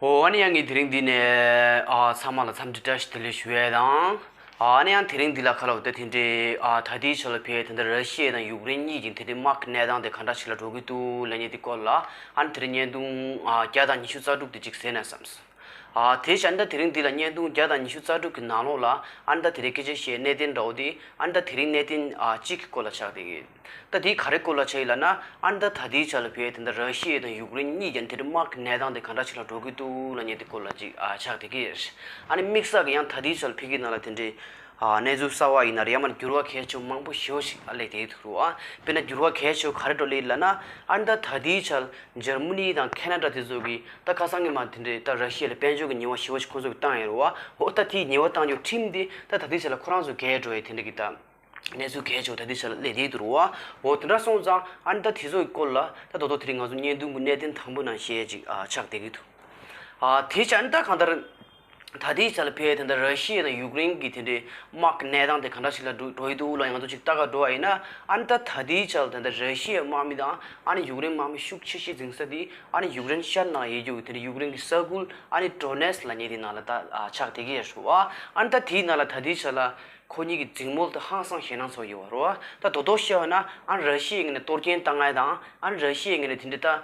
ཨོ་ནི་ཡང་ངས་དེ་རིང་འདི་ནས་ཚང་མ་ལ་འཚམས་འདྲི་བཀྲ་ཤིས་བདེ་ལེགས་ཞུ་བའི་དང། ཨ་ནི་ཡང་དེ་རིང་འདི་ལ་ཁ་ལོ་བ་དེ་འདྲའི་ད་ལྟའི་ཆ་ལ་བལ་དེ་འདྲ་ར་ཤི་ཡའི་དང་ཡུག་རེན་གཉིས་ཀྱི་འདི་འདྲའི་དམག་གི་གནས་སྟངས་དེ་ག་འདྲ་ཞིག་ལ་འགྲོ་གི་འདུག་ལ་ཉེ་དེ་སྐོར་ལ་ཨ་ནི་དེ་རིང་བརྙན་ཐུང་བརྒྱ་དང་ཉི་ཤུ་རྩ་དྲུག་དེ་གཅིག་གཟས་ནས་བསམས། དེའི་ཕྱིར་ཨཱ་ནནྡ་དེ་རིང་འདི་ལ་བརྙན་ཐུང་བརྒྱ་དང་ཉི་ཤུ་རྩ་དྲུག་གི་ནང་ལོགས་ལ་ཨཱ་ནནྡ་དེ་རིང་སྐད་ཆ་བཤད་གནད་དོན་འདྲ་བོ་དེ་ཨཱ་ནནྡ་དེ་རིང་གནད་དོན་གཅིག་གི་སྐོར་ལ་ཆགས་བསྡད་ཡོད། ད་དེའི་ག་རེ་སྐོར་ལ་ཆགས་ཡོད་ལབ་ན་ཨཱ་ནནྡ་ད་ལྟའི་ཆ་ལ་བོད་དེ་འདྲ་ར་ཤི་ཡའི་དང་ཡུཀ་རེན་གཉིས་ཀྱང་དེ་འདྲ་དམག་གི་གནས་སྟངས་དེ་ག་འདྲ་ཞིག་ལ་འགྲོ་གི་འདུག་ལ་ཉེ་དེ་སྐོར་ལ་ཅིག་ཆགས་བསྡད་ཀྱི། ཨཱ་ནི་དམིགས་བསལ་གྱི་ཡང་ད་ལྟའི་ཆ་ལ་བོད་ཀྱི་ནང་ལ་དེ་འདྲའི། གནས་ཚུལ་གསར་བ་ཡིན་ན་རེ་ཡ་མར་འགྱུར་བ་གལ་ཆེན་པོ་མང་པོ་ཞིག་ཞིག་ཨ་ལས་དེའི་ཐུགས་རུ་ཨ་དཔེར་ན་འགྱུར་བ་གལ་ཆེ་བོ་ག་རེ་འགྲོ་ལེ་ལ་ན་ཨ་ན་ད་དེའི་ཆ་འཇར་མུ་ནི་དང་ཁེ་ན་ཏྲ་དེ་ཚོ་གི་ད་ཁ་སང་གི་མ་དེ་འདྲའི་ད་ར་ཤི་ཡ་ལ་དཔལ་འབྱོར་གི་ཉེ་བ་ཞི་བ་ཞིག་ཁོ་ཚོ་གི་བཏང་ཡ་རུ་ཨ་ཧོ་ད་དེའི་ཉེ་བ་བཏང་རྒྱུ་ཁྲིམས་དེ་ད་ད་དེའི་ཆ་ལ་ཁོ་རང་ཚོ་འགལ་འགྲོ་ཡ་དེ་འདྲ་གི་ད་གནས་ཚུལ་གལ་ཆེ་བོ་ད་དེའི་ཆ་ལ་ལས་དེའི་དུ་རུ་ཨ་ཧོ་དེ་འདྲ་སོང་ཙང་ཨ་ན་ད་དེ་ཚོ་གི་སྐོར་ལ་ད་རྡོག་རྡོག་དེ་རིང་ང་ཚོ་བརྙན་ཐུང་གི་གནད་དོན་དང་པོ་ནང་བཤད་ཅིག་ཨ་ཆགས་བསྡད་གི་འདུག་ཨ་དེའི་ཆ་ཨ་ན་ད་གང་ལྟར། ད་ལྟའི་ཆར་ལ་ཕལ་དེ་འདྲ་ར་ཤི་ཡའི་དང་ཡུཀ་རེན་གྱི་དེ་འདྲའི་དམག་གི་གནས་སྟངས་དེ་ག་འདྲ་ཞིག་ལ་འགྲོ་འགྲོ་ཡི་འདུག་ལ་ཡང་ཐུག་ཅིག་ལྟ་ག་འགྲོ་བ་ཡིན་ན་ཨ་ནི་ད་ད་ལྟའི་ཆར་དེ་འདྲ་ར་ཤི་ཡའི་དམག་མི་དང་ཨ་ནི་ཡུཀ་རེན་དམག་མི་ཤུགས་ཆེ་ཤོས་འཛིན་ས་དེ་ཨ་ནི་ཡུཀ་རེན་ཤར་ནང་ཡེ་རྒྱུ་གི་དེ་འདྲའི་ཡུཀ་རེན་གྱི་ས་ཁུལ་ཨ་ནི་ཏྲོ་ནེས་ལ་ཉེ་དེའི་ནང་ལ་ད་ཆགས་དེ་གའི་ཡར་ཞུ་བ་ཨ་ནི་ད་དེའི་ནང་ལ་ད་ལྟའི་ཆར་ལ་ཁོ་གཉིས་ཀྱི་རྫིང་མོ་དེ་ཧང་སང་ཞེད་སྣང་ཚོར་ཡོད་བ་རོ། ད་དོ་དོ་བཤད་བ་ན་ཨ་ནི་ར་ཤི་ཡའི་ངོས་ནས་གཏོར་སྐྱེན་བཏང་ངེས་དང་ཨ་ནི་ར་ཤི་ཡའི་ངོས་ནས་དེ་འདྲའི་ད།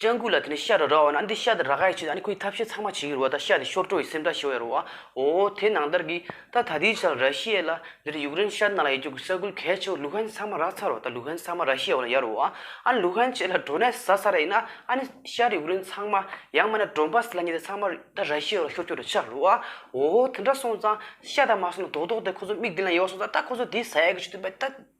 སྤྱང་ཀུ་ལ་དེ་ནས་ཤ་ར་ར་བ་ན་འདི་ཤ་དེ་ར་ག་ཡི་ཆུ་དང་ཁོའི་ཐབས་ཤེས་ཚང་མ་བྱེད་ཀྱི་རུ་བ་དང་ཤ་དེ་ཤོར་སྤྲོ་ཡི་སེམས་ཐག་ཤོར་ཡ་རུ་བ་འོ་དེ་ནང་ལྟར་གི་ད་ད་དེའི་ཆར་ར་ཤི་ཡའི་ལ་འདིར་ཡུཀ་རེན་ཤར་ནང་ལ་ཡི་རྒྱུག་གི་ས་ཁུལ་གལ་ཆེ་བ་ལུ་ཧན་ས་མ་ར་ཚར་བ་དང་ལུ་ཧན་ས་མ་ར་ཤི་ཡའི་བ་ན་ཡ་རུ་བ་ཨ་ལུ་ཧན་བཅས་ལ་འགྲོ་ནས་ཟ་ས་ར་ཡིན་ན་ཨ་ནི་ཤར་ཡུཀ་རེན་ཚང་མ་ཡང་མ་ན་འགྲོ་འབའ་ས་ལ་ཉེ་དེ་ཚང་མ་ད་ར་ཤི་ཡའི་བ་ལ་ཤོར་སྐྱོར་དུ་ཆག་གི་རུ་བ་འོ་དེ་འདྲ་སོང་ཙང་ཤ་དང་མ་སོང་ན་དོག་དོག་དེ་ཁོ་ཚོ་མིག་མདུན་ལ་ཡོད་སོང་ཙང་ད་ཁོ་ཚོ་དེའི་ས་ཡ་གི་ཆུ་དེ་འབའ་ད་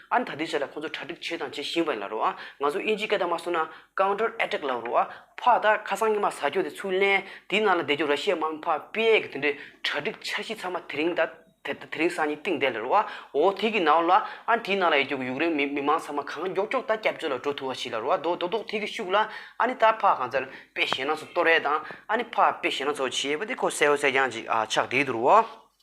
ཨ་ད་དེ་བྱས་ལ་ཁོང་ཚོ་གྲ་སྒྲིག་བྱས་དང་བྱེད་བཞིན་པ་ཡིན་ལ་རོ་ཨ་ང་ཚོ་དབྱིན་ཇིའི་སྐད་དང་མ་སོ་ན Counter Attack ལབ་རོ་ཨ་ཕ་ད་ཁ་སང་ཉི་མ་ཟ་སྐྱོ་དེ་ཚུར་ལེན་དེའི་ནང་ལ་བསྡད་རྒྱུ་ར་ཤི་ཡའི་དམག་མི་ཕ་དཔེ་གི་དེ་འདྲའི་གྲ་སྒྲིག་འཆར་གཞི་ཚང་མ་དེ་རིང་ད་དེ་རིང་སང་ཉིན་བཏིང་བསྡད་ལ་རོ་ཨ་འོ་དེ་གི་ནང་ལ་ཨ་དེའི་ནང་ལ་ཡོད་རྒྱུ་ཡུག་རེན་མི་མི་མང་ཚང་མ་གང་མགྱོགས་མགྱོགས་ད་སྐྱབས་བཅོལ་ལ་འགྲོ་ཐུབ་བ་བྱས་ལ་རོ་ཨ་དོ་དོ་དོ་དེ་གི་ཤུགས་ལ་ཨ་ནི་ད་ཕ་གང་ཚར་དཔེ་བྱས་ན་ཚོ་ཏོ་རེད་དང་ཨ་ནི་ཕ་དཔེ་བྱས་ན་ཚོ་བྱས་པ་དེ་ཁོ་གསལ་བོ་གསལ་རྐྱང་ཅིག་ཨ་ཆགས་བསྡད་དུ་རོ་ཨ།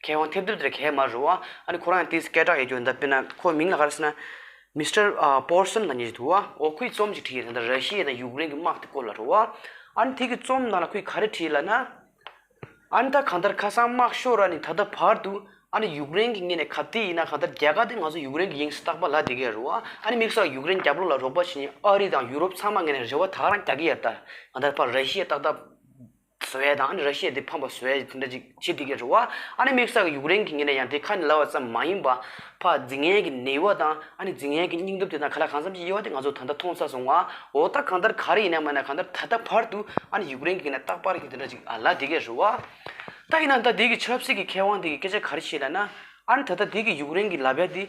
མཁས་དབང་ཐེབས་རྡུལ་དེར་གད་མ་རུ་ཨ་ནི་ཁོ་རང་ཡང་ཏིས་སྐད་གྲགས་ཡོད་རྒྱུ་འདི་དཔེར་ན་ཁོའི་མིང་ལ་ག་རེ་ཟེར་ན། Mister Paulson ལ་ཉེ་ཞིག་འདུག་ཨ་འོ་ཁོས་རྩོམ་ཅིག་བྲིས་ཡོད་ད་ར་ཤི་ཡའི་དང་ཡུཀ་རེན་གྱི་དམག་དེ་སྐོར་ལ་རུ་ཨ་ཨ་ནི་དེ་གི་རྩོམ་ནང་ལ་ཁོས་ག་རེ་བྲིས་ལ་ན། ཨ་ནི་ད་གང་ལྟར་ཁ་སང་དམག་ཤོར་ར་ནི་ད་ལྟ་བར་དུ་ཨ་ནི་ཡུཀ་རེན་གྱི་ངེད་ནས་གབ་དེ་ཡིན་ན་གང་ལྟར་རྒྱ་གར་དེ་ང་ཚོ་ཡུཀ་རེན་གྱི་ཡིང་བསྟག་པ་ལ་དེ་གའི་རུ་ཨ་ཨ་ནི་དམིགས་བསལ་ཡུཀ་རེན་རྒྱབ་ལོགས་ལ་རོགས་པ་བྱེད་ཉིན་ཨ་རི་དང་ཡུ་རོབ་ཚང་མ་ངེད་ནས་རེ་བ་ད་རང་རྒྱག་གི་ཡ་ད་གང་ལྟར་བར་ར་ཤི་ཡ་ཏག་ཏག་བཟོ་བས་དང་ཨ་ནི་ར་ཤི་ཡས་དེ་ཕམ་པར་བཟོ་བས་དེ་འདྲ་ཅིག་བྱེད་དེ་གའི་རུ་བ་ཨ་ནི་དམིགས་བསལ་གྱི་ཡུག་རེན་གྱི་ངོས་ནས་ཡང་དེ་ཁ་ནས་ལབ་བ་ཙམ་མ་ཡིན་པར་ཕ་རྫི་ངན་གྱི་ནད་ཡུ་བ་དང་ཨ་ནི་རྫི་ངན་གྱི་སྙིང་སྟོབས་དེ་དང་ག་ལ་གང་འཚམ་གྱི་དབྱེ་བ་དེ་ང་ཚོ་ད་ལྟ་མཐོང་ས་སོང་བ་འོ་ད་གང་ལྟར་ག་རེ་ཡིན་ན་མ་ཡིན་ན་གང་ལྟར་ད་ལྟ་བར་དུ་ཨ་ནི་ཡུག་རེན་གྱི་ངོས་ནས་རྟག་པར་གྱི་དེ་འདྲ་ཅིག་ཨ་ལ་དེ་གའི་རུ་བ་ད་ཡིན་ན་ད་དེ་གའི་ཆབ་སྲིད་ཀྱི་མཁས་དབང་དེ་གའི་སྐད་ཆ་ག་རེ་བཤད་ལ་ན་ཨ་ནི་ད་ལྟ་དེ་གའི་ཡུག་རེན་གྱི་ལ་བལ་དེ།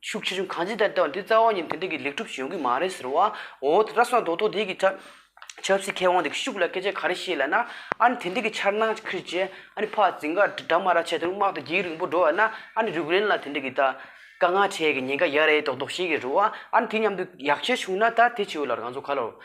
ཤུགས་ཆེ་ཆུང་གང་ཅི་ལྟར་ལྟ་བ་འདི་རྩ་བ་ཉིད་དོན་ཐད་ཀྱི་ལེགས་གྲུབ་བྱུང་གི་མ་རེད་ཟེར་བ། འོ་ད་བསམ་རྡོག་རྡོག་དེ་གི་ཁྲ། ཆབ་སྲིད་མཁས་དབང་དེ་གི་ཤུགས་ལ་སྐད་ཆ་ག་རེ་བཤད་ལ་ན། ཨ་ནི་དེ་འདྲ་གི་འཆར་སྣང་ཁིར་བྱས། ཨ་ནི་ཕག་རྫི་འགའ་དྲ་མ་ར་བྱས་དོན་དམག་དེ་འགྱིག་རིང་པོ་འགྲོ་བ་ན་ཨ་ནི་རུག་རན་ལ་དེ་འདྲ་གི་ད། དཀའ་ངལ་འཕྲད་གི་ཉེན་ཁ་ཡག་རེད་རྡོག་རྡོག་བཤད་གི་རུ་བ་ཨ་ནི་དེ་མཉམ་དུ་ཡག་བྱས་བྱུང་ན་ད་དེ་བྱས་ཡོད་ལར་ང་ཚོ་ག་ལ།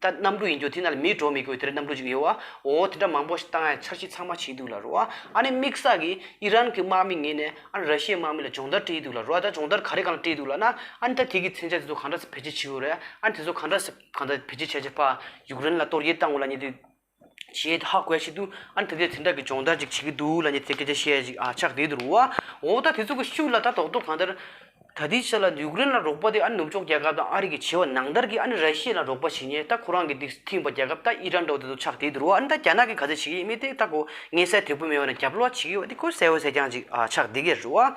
ད་གནམ་གྲུ་ཡིན་རྒྱུ་དེ་ན་ལ་མིའི་འགྲོ་མི་དགོས་དེ་རེད་གནམ་གྲུ་ཅིག་ཡོད་ཨོ་དེ་འདྲ་མང་པོ་ཞིག་བཏང་ཡ་འཆར་གཞི་ཚང་མ་བྱས་འདུག་ལ་རོ་ཨ་ཨ་ནི་དམིགས་བསལ་གི་ཨི་རན་གི་དམག་མི་ངེད་ནས་ཨ་ར་ཤི་ཡའི་དམག་མི་ལ་སྦྱོང་བརྡར་སྤྲད་ཡི་འདུག་ལ་རོ་ཨ་ད་སྦྱོང་བརྡར་ག་རེ་གང་སྤྲད་འདུག་ལ་ན་ཨ་ནི་ད་དེ་གི་མཚན་ཆ་དེ་ཚོ་གང་འདྲ་ས་བེད་སྤྱད་བྱས་ཡོད་རེད་ཨ་ནི་དེ་ཚོ་གང་འདྲ་ས་གང་འདྲ་བེད་སྤྱད་བྱས་བྱས་ཕ་ཡུཀ་རེན་ལ་གཏོར་རྒྱལ་བཏང་འོ་ལ་ཉེ་དུས་ཞེས་ཧ་གོ་ཡ་ཞིག་འདུག་ཨ་ནི་ད་ལྟའི་དེ་འདྲ་གི་སྦྱོང་བརྡར་ཅིག་བྱེད་ཀྱི་འདུག་ལ་ཉེ་ཚེ་སྐད་ཆ་བཤད་ཅིག་ཨ་ཆགས་བསྡད་འདུག་ཨོ་ད་དེ་ཚོ་གི་ཤུགས་ལ་ད་དོགས་འདུག་གང་ལྟར། ད་ལྟའི་ཆ་ལ་ཡུཀ་རེན་ལ་རོགས་པ་དེ་ཨ་ནི་ནུབ་ཕྱོགས་རྒྱལ་ཁབ་དང་ཨ་རི་གི་བྱེད་བ་ནང་ལྟར་གྱི་ཨ་ནི་ར་ཤི་ཡ་ལ་རོགས་པ་བྱེད་ཉེ་ད་ཁོ་རང་གི་འདི་ཐིངས་པ་རྒྱལ་ཁབ་ད་ཨི་རན་འདྲ་བོ་དེ་ཚོ་ཆགས་བསྡད་འདུག་ཨ་ནི་ད་རྒྱ་ནག་གི་ག་ཚོད་བྱེད་ཀྱི་ཡིན་མི་དེ་ད་གོ་ངས་གསལ་དོད་པོ་མེད་བ་ན་རྒྱབ་ལོག་བྱེད་ཀྱི་ཡོད་པ་དེ་ཁོས་གསལ་བོ་གསལ་རྐྱང་ཅིག་ཨ་ཆགས་བསྡད་ཀྱི་རེད།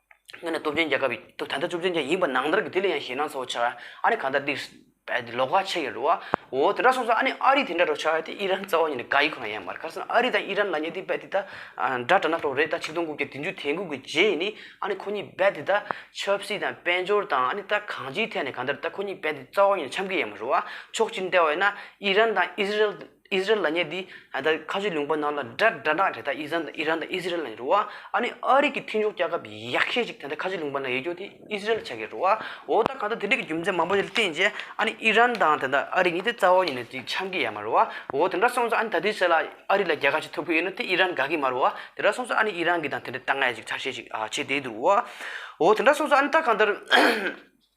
ང་ནི་སྟོབས་ཆེན་རྒྱལ་ཁབ་ཡིན། ད་ལྟ་བཅོམ་ལྡན་འདས་ཡིན་པ་ནང་ལྟར་གྱི་དེ་ལ་ཡང་ཞེད་སྣང་ཚ་བོ་ཆགས། ཨ་ནི་ག་ལྟར་འདི། ལོ་ག་ཕྱེད་ཡིན་རུང། འོ་དེ་འདྲ་སོང་ཙང་ཨ་ནི་ཨ་རི་དེ་འདྲ་རོ་ཆགས་ཏེ་ཨི་རན་རྩ་བ་ཉིད་ནས་ག་ཡི་ཁོ་ན་ཡང་མ་རེད་ཁར་སང་ཨ་རི་དང་ཨི་རན་ལ་ཉེ་དེ་རྦད་དེ་ད། འདྲ་དྲ་ན་ལྷོ་རེད་ད་ཆིག་སྟོང་དགུ་བརྒྱ་དེ་མཇུག་དེ་འགུག་གི་རྗེས་ཡིན་ནི་ཨ་ནི་ཁོ་གཉིས་རྦད་དེ་ད། ཆབ་སྲིད་དང་དཔལ་འབྱོར་དང་ཨ་ནི་ད་གང་ཅིའི་ཐད་ནས་ག་འདྲ་རེད་ད་ཁོ་གཉིས་རྦད་དེ་རྩ་བ་ཉིད་ནས་འཆམ་གི་ཡང་མ་རུང། ཕྱོགས་གཅིག་འདྲ་བ་ཡིན་ན་ཨི་རན་དང་ཨི་ཟི་རེལ། ཨི་ཟི་རལ་ལ་ཉེ་དེ་ད་ཁ་ཆུ་ལུང་པ་ནང་ལ་དགྲ་དགྲ་དག་དེ་དག་ཨི་ཟན་ཨི་རན་དང་ཨི་ཟི་རལ་ནང་འགྲོ་བ་ཨ་ནི་ཨ་རིག་གི་མཐུན་ཕྱོགས་སྐྱག་ཁབ་ཡག་ཤས་ཅིག་དེ་ད་ཁ་ཆུ་ལུང་པ་ནང་ཡེ་འགྱོ་དེ་ཨི་ཟི་རལ་ཆ་གས་འགྲོ་བ་འོ་ད་གང་ལྟར་དེ་འདྲ་གི་རྒྱུ་མཚན་མང་པོ་ཞིག་ལ་བརྟེན་རྗེས་ཨ་ནི་ཨི་རན་དང་དེ་ད་ཨ་རིག་གཉིས་དེ་རྩ་བ་ཉིད་ནས་དེ་ཆང་གི་ཡ་མ་རོ་བ་འོ་དེ་འདྲ་སོང་ཚ་ཨ་ནི་ད་དུས་ཚོད་ལ་ཨ་རིག་ལ་རྒྱལ་ཁ་ཅིག་ཐོབ་གི་ཡོད་ན་དེ་ཨི་རན་དགའ་གི་མ་རོ་བ་དེ་འདྲ་སོང་ཚ་ཨ་ནི་ཨི་རན་གི་དང་དེ་འདྲ་ལྟ་ངན་ཅིག་ཚ་ཤས་ཅིག་བྱེད་བསྡད་འདུག་བ་འོ་དེ་འདྲ་སོང་ཚ་ཨ་ནི་ད་གང་ལྟར།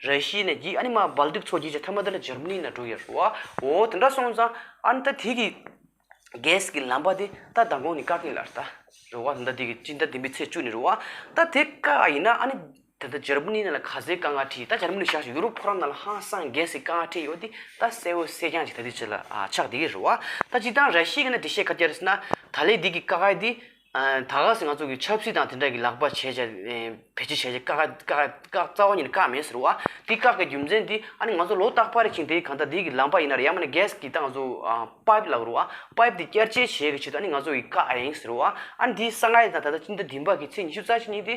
ར་ཤི་ནས་གྱིས་ཨ་ནི་མ་སྦལ་དུག་ཚོགས་གྱིས་ཅི་ཐ་མ་དར་ལ་འཇར་མ་ནི་ན་འགྲོ་ཡ་རུ་བའོ། དེ་འདྲ་སོང་ཙང་ཨ་ནི་ད་དེ་གི་གས་ཀྱི་ལམ་པ་དེ་ད་མདང་དགོང་ནི་ཀ་ཀི་ལར་ད་རུ་བ་དེ་འདྲ་དེ་གི་ཅི་འདྲ་དེ་འི་ཚེ་བཅུ་ནི་རུ་བ་ད་དེ་ཀ་ཨ་ཡིན་ན་ཨ་ནི་ད་ད་འཇར་མ་ནི་ན་ལ་ག་ཟེ་ཀ་ང་ཁྲི་ད་འཇར་མ་ནི་ཤག་ཤི་ཡུ་རོབ་ཕོ་རང་ན་ལ་ཧང་སང་གས་ཀྱི་ཀ་ང་ཁྲི་ཡོ་དི་ད་སེ་འོ་སེ་ཀྱང་ཅི་ད་དེ་ཅི་ལ་ཨ་ཆག་དེ་གི་རུ་བ་ད་ཅི་ད་ར་ཤི་གི་ན་དེ་ཤེ་ཁ་ཏྱར་སི་ན་ད་ལེ་དེ་གི་ཀ་ཨ་དི་ད་ག་ཟེ་ང་ཚོ་གི་ཆབ་སྲིད་དང་དེ་འདྲ་གི་ལག་པ་བྱས་བྱས་བེད་སྤྱད་བྱས་བྱས་བཀག་བཀག་རྩ་བ་ཉིད་ནས་བཀག་མེད་ཟེར་བ། དེ་བཀག་པའི་རྒྱུ་མཚན་དེ་ཨ་ནི་ང་ཚོ་ལོ་རྟག་པར་ཕྱིན་དེ་གང་ལྟར་དེ་གི་ལམ་པ་ཡིན་ནར་ཡང་མིན་ན་གྷེས་ཀྱི་ད་ང་ཚོ་པཱིབ་ལགས་རུ་ཨ་པཱིབ་དེ་བསྐྱར་བཅད་བྱས་ཀྱི་ཆེད་དུ་ཨ་ནི་ང་ཚོ་གི་བཀག་ཨ་ཡིན་ཟེར་བ། ཨ་ནི་དེ་ས་ང་ཡི་ད་ད་ད་ཅིན་ད་དིན་པ་གི་ཚེས་ཉི་ཤུ་རྩ་གཅིག་ཉིན་དེ།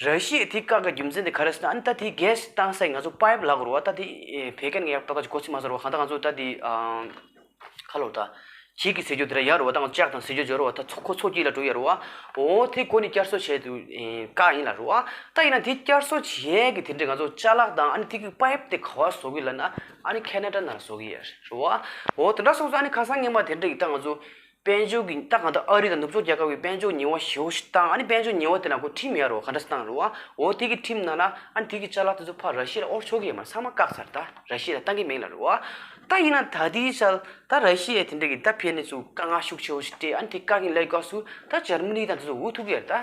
ར་ཤིའི་དེ་བཀག་གི་རྒྱུ་མཚན་དེ་ག་རེ་ཟེར་ན་ཨ་ནི་ད་དེ་གས་གཏང་སའི་ང་ཚོ་པཱེབ་ལག་རུ་བ་ད་དེ་བད་ཀན་གྱི་ཡག་ཏོག་ཏོག་ཅིག་གོ་ཚིག་མ་ཟེར་བ་གང་ལྟར་ང་ཚོ་ད་དེ་ཁ་ལོ་ད་བྱིད་ཀྱི་ཟེར་རྒྱུ་དེ་ར་ཡག་རུ་བ་ད་ང་ལྕགས་དང་ཟེར་རྒྱུ་སྦྱོར་བ་ད་ཚོ་ཁོ་ཚོ་གྱིས་ལ་འགྲོ་ཡག་རུ་བ་འོ་དེ་དགོ་ནི་བསྐྱར་གསོ་བྱས་དུ་བཀག་ཡིན་ལ་རུ་བ་ད་ཡིན་ན་དེ་བསྐྱར་གསོ་བྱས་གི་དེ་འདྲས་ང་ཚོ་ལྕགས་ལག་དང་ཨ་ནི་དེ་གི་པཱེབ་དེ་ག་བ་བཟོ་གི་ལ་ན་ཨ་ནི་ཁ་ན་ཏྲ་ན་བཟོ་གི་ཡ་རུ་བ་འོ་དེ་འདྲ་སོང་ཚོ་ཨ་ནི་ཁ་སང་ངན་པ་དེ་འདྲས་ཀྱི་ད་ང་ཚོ་དཔལ་འབྱོར་གྱི་སྟངས་གང་དུ་ཨ་རི་དང་ནུབ་ཕྱོགས་རྒྱལ་ཁབ་ཀྱི་དཔལ་འབྱོར་ཉིང་བ་ཞེ་བོ་ཞིག་བཏང་ཨ་ནི་དཔལ་འབྱོར་ཉིང་བ་དེ་ལ་གོ་ཁྲིམས་ཡར་རོ་ག་འདྲ་བཏང་རུང་ཨོ་དེ་གི་ཁྲིམས་ནང་ལ་ཨ་ནི་དེ་གི་ཆ་ལག་དེ་ཚོ་ཕར་ར་ཤི་ལ་ཨོར་ཆོ་གའི་ཡ་མར་ཚང་མ་བཀག་ཚར་ད་ར་ཤི་ལ་བཏང་གི་མིང་ལ་རུ་ཨ་ད་ཡིན་ན་ད་དེའི་ཆལ་ད་ར་ཤི་ཡའི་དེ་འདྲ་གི་ད་ཕན་ནི་ཚུ་དཀའ་ངལ་ཤུགས་ཆེ་བོ་ཞིག་སྤྲད་ཨ་ནི་དེ་བཀག་གིན་ལས་དགའ་སུ་ད་འཇར་མི་ནི་དང་དེ་ཚོ་འུ་ཐུག་གི་ཡར་ད།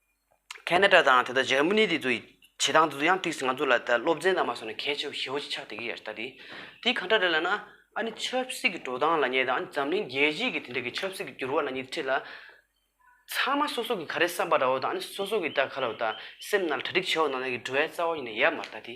ཁ་ནད་དྲག་དང་དེ་དག་འཇར་མ་ནི་དེ་ཚོ་ཡི་བྱེད་སྟངས་དེ་ཚོ་ཡང་ཏིགས་སེ་ང་ཚོ་ལ་ད་སློབ་ཚན་དང་མ་སོ་ན་གལ་ཆེ་བོ་ཞེ་བོ་ཅིག་ཆགས་བསྡད་ཀྱི་ཡ་ད་དེ་དེ་གང་འདྲ་རེད་ལ་ན་ཨ་ནི་ཆབ་སྲིད་ཀྱི་འགྲོ་སྟངས་ལ་ཉེ་དང་འཛམ་གླིང་རྒྱལ་སྤྱིས་ཀྱི་དེ་འདྲ་གི་ཆབ་སྲིད་ཀྱི་འགྱུར་བ་ལ་ཉེ་ཁྲིད་ལ། ཚང་མ་སོ་སོ་གི་ག་རེ་བསམ་པ་འདྲ་བོ་དང་ཨ་ནི་སོ་སོ་གི་ད་ག་ལ་བ་ད་སེམས་ན་གྲ་སྒྲིག་བྱས་བ་ནང་ན་གི་འགྲོ་བའི་རྩ་བ་ཡིན་ན་ཡ་མ་ད་དེ།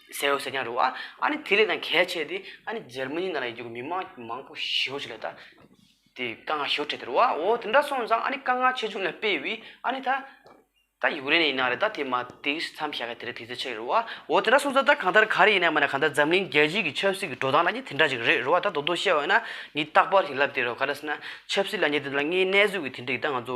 གསལ་བོ་གསལ་ཀྱང་རུང་ཨ་ནི་དེ་ལས་ཀྱང་གལ་ཆེ་སྟེ་ཨ་ནི་འཇར་མ་ནི་ནང་ལ་ཡོད་རྒྱུ་མི་མང་མང་པོ་ཞི་བ་ཆེ་ལ་ད་དེ་དཀའ་ངལ་ཞོར་འཕྲད་དེ་རུ་ཨོ་དེ་འདྲ་སོང་ཙང་ཨ་ནི་དཀའ་ངལ་ཆེ་ཆུང་ལ་དཔེ་དབྱི་ཨ་ནི་ད་ད་ཡུག་རེན་ནས་ཡིན་ན་རེད་ད་དེ་མ་དེ་མཚམས་བཞག་གི་དེ་རིང་དེ་ཚོད་ཆེ་རུ་ཨོ་དེ་འདྲ་སོང་ཙང་ད་གང་ལྟར་ག་རེ་ཡིན་ན་མ་ན་གང་ལྟར་འཛམ་གླིང་རྒྱལ་སྤྱིའི་གི་ཆབ་སྲིད་ཀྱི་འགྲོ་སྟངས་ལ་ནི་དེ་འདྲ་ཅིག་རེད་རུ་ཨ་ད་རྡོག་རྡོག་བཤད་བ་ཡིན་ན་ནི་རྟག་པར་ཞིག་ལབ་དེ་རུ་ག་དྲ་སི་ན་ཆབ་སྲིད་ལ་ཉེ་དེ་དང་ལ་ངའི་གནས་ཚུལ་གྱི་དེ་འདྲ་ཡི་ད་ང་ཚོ